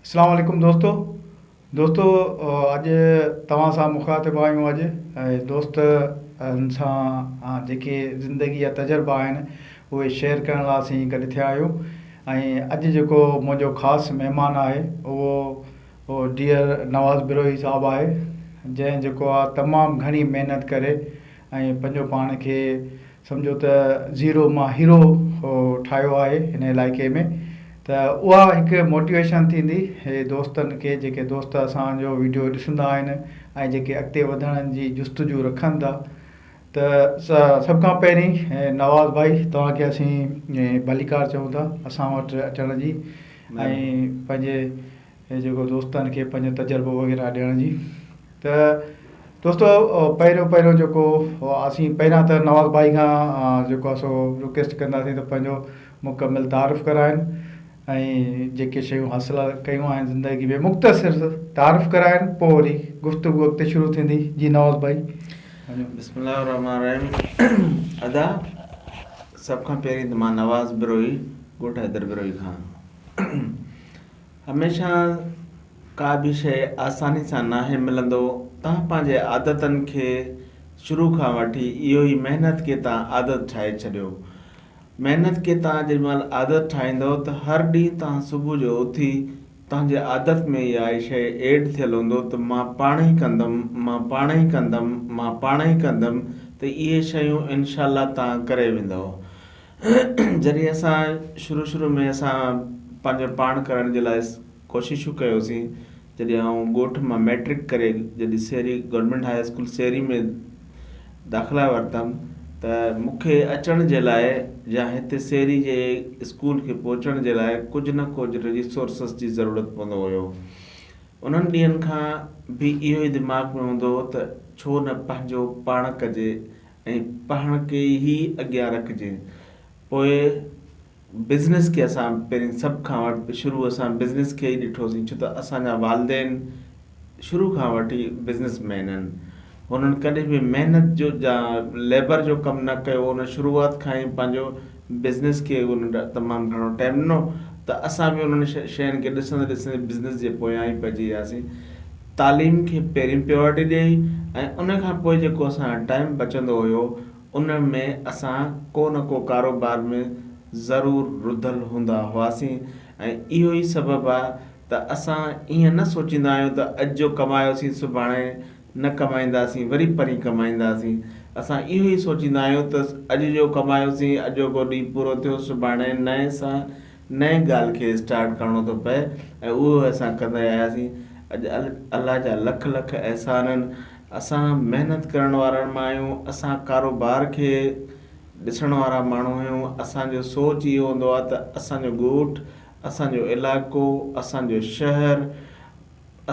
اسلام عليڪم دوستو دوستو اڄ توهان سان مخاطب آهيون اڄ دوست ان سان جيڪي زندگي جا تجربا آهن اهي شيئر ڪرڻ لاء اسين گڏ ٿيا آهيون ۽ اڄ جيڪو منهنجو خاص مهمان آهي اهو ڊيئر نواز بروهي صاحب آهي جنهن جيڪو آهي تمام گهڻي محنت ڪري ۽ پنهنجو پاڻ کي سمجهو ته زيرو مان هيرو ٺاهيو آهي هن علائقي ۾ ته اها هڪ موٽيويشن ٿيندي هي دوستن کي جيڪي دوست اسان جو ويڊيو ڏسندا آهن ۽ جيڪي اڳتي وڌڻ جي جستجو رکن ٿا ته سڀ کان پهرين نواز ڀائي توهان کي اسين ڀليڪار چئون ٿا اسان وٽ اچڻ جي ۽ پنهنجي جيڪو دوستن کي پنهنجو تجربو وغيره ڏيڻ جي ته دوستو پهريون پهريون جيڪو اسين پهريان ته نواز ڀائي کان جيڪو آهي سو رڪويسٽ ڪنداسين ته پنهنجو مڪمل تعارف ڪرائين ۽ جيڪي شيون حاصل ڪيون آهن زندگي ۾ مختصر تعارف ڪرائين پوء وري گفتگو اڳتي شروع ٿيندي جي نواز ڀائي بسم الله الرحمن الرحيم ادا سڀ کان پهرين ته مان نواز بروهي ڳوٺ حيدر بروهي کان هميشه ڪا به شيء آساني سان ناهي ملندو تان پنهنجي عادتن کي شروع کان وٺي اهو ئي محنت کي تان عادت ٺاهي ڇڏيو محنت کي تان جيڏي مهل عادت ٺاهيندو ته هر ڏينهن تان صبح جو اٿي تنهنجي عادت ۾ اها ئي شيء ايڊ ٿيل هوندو ته مان پاڻ ئي ڪندم مان پاڻ ئي ڪندم مان پاڻ ئي ڪندم ته اهي شيون انشاء الله تان ڪري ويندؤ جڏهن اسان شروع شروع ۾ اسان پنهنجو پاڻ ڪرڻ جي لاء ڪوششون ڪيوسين جڏهن آئون ڳوٺ مان مئٽرڪ ڪري جڏهن Sehri government high school Sehri ۾ داخلا ورتم ته مون کي اچڻ جي لاء يا هتي سهري جي اسڪول کي پهچڻ جي لاء ڪجهه نه ڪجهه ريسورسز جي ضرورت پوندو هيو انهن ڏينهن کان به اهو ئي دماغ ۾ هوندو هو ته ڇو نه پنهنجو پاڻ ڪجي ۽ پاڻ کي ئي اڳيان رکجي پوء بزنس کي اسان پهرين سڀ کان وٽ شروع اسان بزنس کي ئي ڏٺوسين ڇو ته اسان جا والدين شروع کان وٺ ئي بزنس مين آهن هنن ڪڏهن به محنت جو جا ليبر جو ڪم نه ڪيو هو هن شروعات کان ئي پنهنجو بزنس کي انهن تمام گهڻو ٽائيم ڏنو ته اسان به انهن شين کي ڏسندي ڏسندي بزنس جي پويان ئي پئجي وياسين. تعليم کي پهرين پريورٽي ڏيئي ۽ ان کان پوء جيڪو اسان جو ٽائيم بچندو هيو ان ۾ اسان ڪو نه ڪو ڪاروبار ۾ ضرور رڌل هوندا هئاسين ۽ اهو ئي سبب آ ته اسان ائين نه سوچيندا آهيون ته اڄ جو ڪمايوسين سڀاڻي نه ڪمائينداسين وري پرين ڪمائينداسين اسان اهو ئي سوچيندا آهيون ته اڄ جو ڪمايوسين اڄوڪو ڏينهن پورو ٿيو سڀاڻي نئين سان نئين ڳالهه کي اسٽارٽ ڪرڻو ٿو پئي ۽ اهو ئي اسان ڪندا آياسين اڄ الله جا لک لک احسان آهن اسان محنت ڪرڻ وارن مان آهيون اسان ڪاروبار کي ڏسڻ وارا ماڻهو آهيون اسان جو سوچ اهو هوندو آهي ته اسان جو ڳوٺ اسان جو علائقو اسان جو شهر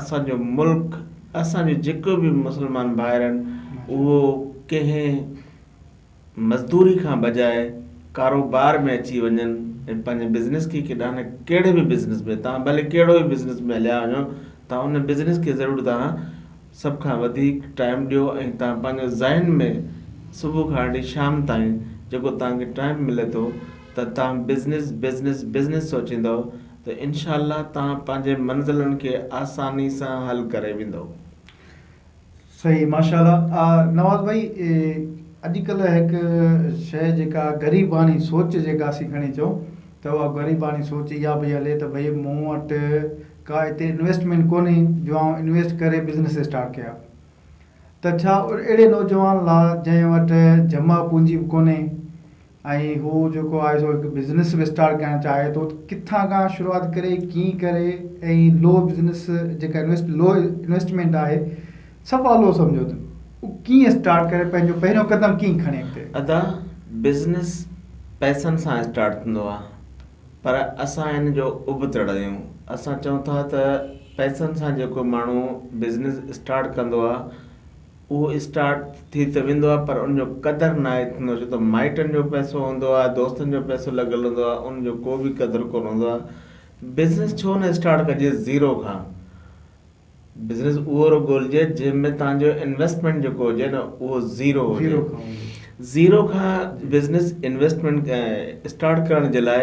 اسان جو ملڪ اسان جو جيڪو به مسلمان ڀائر آهن اهو ڪنهن مزدوري کان بجاء ڪاروبار ۾ اچي وڃن ۽ پنهنجي بزنس کي ڪيڏانهن نه ڪهڙي به بزنس ۾ تان ڀلي ڪهڙو به بزنس ۾ هليا وڃو تان ان بزنس کي ضرور تان سڀ کان وڌيڪ ٽائيم ڏيو ۽ تان پنهنجو ذهن ۾ صبح کان وٺي شام تائين جيڪو تان کي ٽائيم ملي ٿو ته تان بزنس بزنس بزنس سوچيندو ته انشاء الله توهان پنهنجي منزلن کي آساني سان حل ڪري ويندؤ. صحيح ماشاء الله نواز ڀائي اڄ ڪلهه هڪ شيء جيڪا غريباڻي سوچ جيڪا اسين کڻي چئون ته اها غريباڻي سوچ اها پئي هلي ته ڀئي مون وٽ ڪا هتي انويسٽمينٽ ڪونهي جو آئون انويسٽ ڪري بزنيس اسٽارٽ ڪيان ته ڇا اهڙي نوجوان لا جنهن وٽ جمع پونجي به ڪونهي ۽ هو جيڪو آهي سو هڪ بزنس به اسٽارٽ ڪرڻ چاهي ٿو ڪٿان کان شروعات ڪري ڪيئن ڪري ۽ لو بزنس جيڪا انويسٽ لو انويسٽمينٽ آهي صفا لو سمجهيو اٿن هو ڪيئن اسٽارٽ ڪري پنهنجو پهريون قدم ڪيئن کڻي اڳتي ادا بزنس پئسن سان اسٽارٽ ٿيندو آهي پر اسان ان جو ابتڙ آهيون اسان چئون ٿا ته پئسن سان جيڪو ماڻهو بزنس اسٽارٽ ڪندو آهي اهو اسٽارٽ ٿي ته ويندو آهي پر ان جو قدر ناهي ٿيندو ڇو ته مائٽن جو پئسو هوندو آهي دوستن جو پئسو لڳل هوندو آهي ان جو ڪو به قدر ڪونه هوندو آهي بزنس ڇو نه اسٽارٽ ڪجي زيرو کان بزنس اهو رڳو ڳولجي جنهن ۾ توهان جو انويسٽمينٽ جيڪو هجي نه اهو زيرو هجي زيرو کان بزنس انويسٽمينٽ اسٽارٽ ڪرڻ جي لاء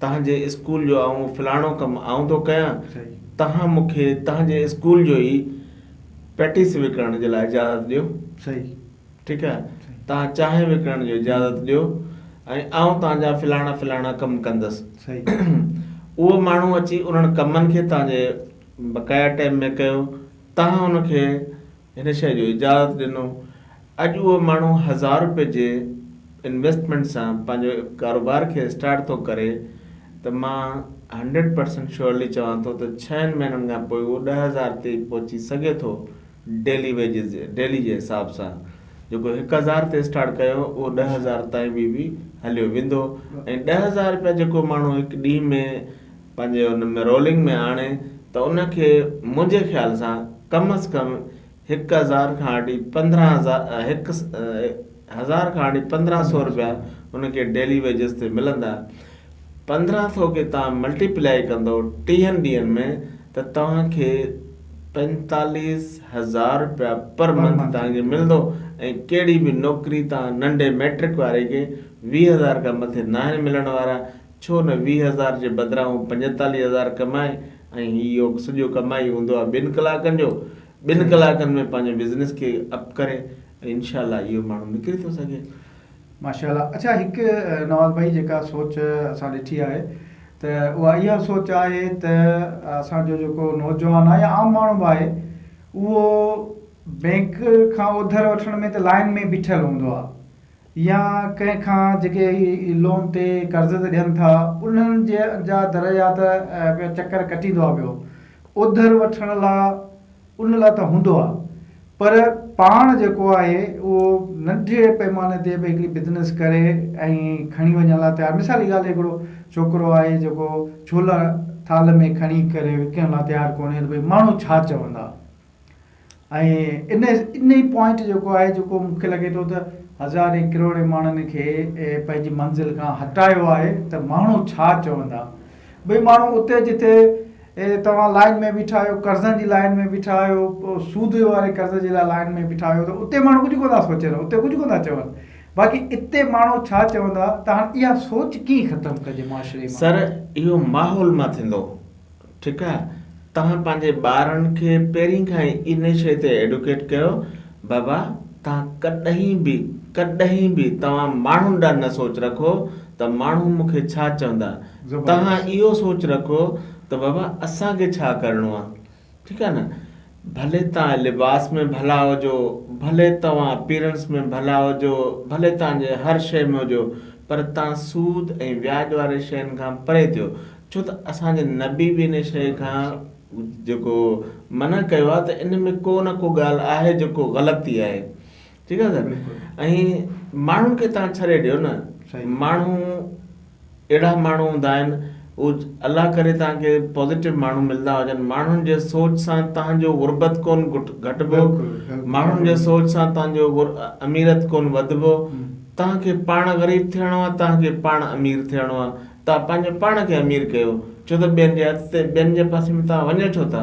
تنهن جي اسڪول جو آئون فلاڻو ڪم آئون ٿو ڪيان، توهان مون کي تنهن جي اسڪول جو ئي پيٽيس وڪڻڻ جي لاء اجازت ڏيو. ٺيڪ آهي. توهان چانهه وڪڻڻ جو اجازت ڏيو ۽ آئون توهان جا فلاڻا فلاڻا ڪم ڪندس. اهو ماڻهو اچي انهن ڪمن کي توهان جي بقايا ٽائيم ۾ ڪيو. توهان ان کي. هن شيء جو اجازت ڏنو. اڄ اهو ماڻهو هزار رپئي جي انويسٽمينٽ سان پنهنجو ڪاروبار کي اسٽارٽ ٿو ڪري ته مان هنڊريڊ پرسينٽ شيورلي چوان ٿو ته ڇهن مهينن کان پوء اهو ڏهه هزار تي پهچي سگهي ٿو ڊيلي ويجز ڊيلي جي حساب سان جيڪو هڪ هزار تي اسٽارٽ ڪيو اهو ڏهه هزار تائين به به هليو ويندو ۽ ڏهه هزار رپيا جيڪو ماڻهو هڪ ڏينهن ۾ پنهنجي ان ۾ رولنگ ۾ آڻي ته ان کي منهنجي خيال سان ڪم از ڪم هڪ هزار کان وٺي پندرهن هزار هڪ هزار کان وٺي پندرهن سو روپيا ان کي ڊيلي ويجز تي ملندا پندرهن سو کي تهان ملٽي پلائي ڪندو ٽيهن ڏينهن ۾ ته توهان کي پنجتاليس هزار روپيا پر منٿ توهان کي ملندو ۽ ڪهڙي به نوڪري تان ننڍي ميٽرڪ واري کي ويهه هزار کان مٿي ناهن ملڻ وارا ڇو نه ويهه هزار جي بدران هو پنجيتاليهه هزار ڪمائي ۽ هي يوڪ سڄو ڪمائي هوندو آهي ٻن ڪلاڪن جو ٻن ڪلاڪن ۾ پنهنجو بزنس کي اپ ڪري ۽ انشاء الله اهو ماڻهو نڪري ٿو سگهي. ماشاء الله اڇا هڪ نواز ڀائي جيڪا سوچ اسان ڏٺي آهي ته اها اها سوچ آهي ته اسان جو جيڪو نوجوان آهي يا عام ماڻهو به آهي اهو بينڪ کان اوڌر وٺڻ ۾ ته لائن ۾ بيٺل هوندو آهي يا ڪنهن کان جيڪي هي لون تي قرض تي ڏين ٿا انهن جا درجات پيا چڪر ڪٽيندو آ پيو اوڌر وٺڻ لا ان لا ته هوندو آ پر پاڻ جيڪو آهي اهو ننڍي پيماني تي به هڪڙي بزنس ڪري ۽ کڻي وڃڻ لا تيار مثال جي ڳالهه هڪڙو ڇوڪرو آهي جيڪو ڇولا ٿال ۾ کڻي ڪري وڪڻڻ لا تيار ڪونهي ته ڀئي ماڻهو ڇا چوندا. ۽ ان انهي پوائنٽ جيڪو آهي جيڪو مون کي لڳي ٿو ته هزارين ڪروڙين ماڻهن کي پنهنجي منزل کان هٽايو آهي ته ماڻهو ڇا چوندا ڀئي ماڻهو اتي جتي توهان لائين ۾ بيٺا آهيو قرضن جي لائين ۾ بيٺا آهيو سود واري قرض جي لاء لائين ۾ بيٺا آهيو ته اتي ماڻهو ڪجهه ڪو نه سوچين اتي ڪجهه ڪو نه چون باقي اتي ماڻهو ڇا چوندا ته هاڻي اها سوچ ڪيئن ختم ڪجي معاشري مان سر اهو ماحول مان ٿيندو ٺيڪ آ توهان پنهنجي ٻارن کي پهرين کان ئي ان شيء تي ايڊوڪيٽ ڪيو بابا توهان ڪڏهن به ڪڏهن به توهان ماڻهن ڏانهن نه سوچ رکو ته ماڻهو مون کي ڇا چوندا توهان اهو سوچ رکو ته بابا اسان کي ڇا ڪرڻو آ ٺيڪ آ نه ڀلي توهان لباس ۾ ڀلا هجو، ڀلي توهان اپيرنس ۾ ڀلا هجو، ڀلي توهان جي هر شيء ۾ هجو، پر توهان سود ۽ وياج واري شين کان پري ٿيو، ڇو ته اسان جي نبي به ان شيء کان جيڪو منع ڪيو آهي ته ان ۾ ڪو نه ڪو ڳالهه آهي جيڪو غلط ئي آهي. ٺيڪ آهي نه ۽ ماڻهن کي تان ڇڏي ڏيو نه ماڻهو اهڙا ماڻهو هوندا آهن او الله ڪري تان کي پوزيٽو ماڻهو ملدا هجن ماڻهن جي سوچ سان تان جو غربت ڪون گهٽبو ماڻهن جي سوچ سان تان جو اميرت ڪون وڌبو تان کي پاڻ غريب ٿيڻو آهي تان کي پاڻ امير ٿيڻو آهي تان پنهنجو پاڻ کي امير ڪيو ڇو ته ٻين جي هٿ تي ٻين جي پاسي ۾ تان وڃو ڇو ٿا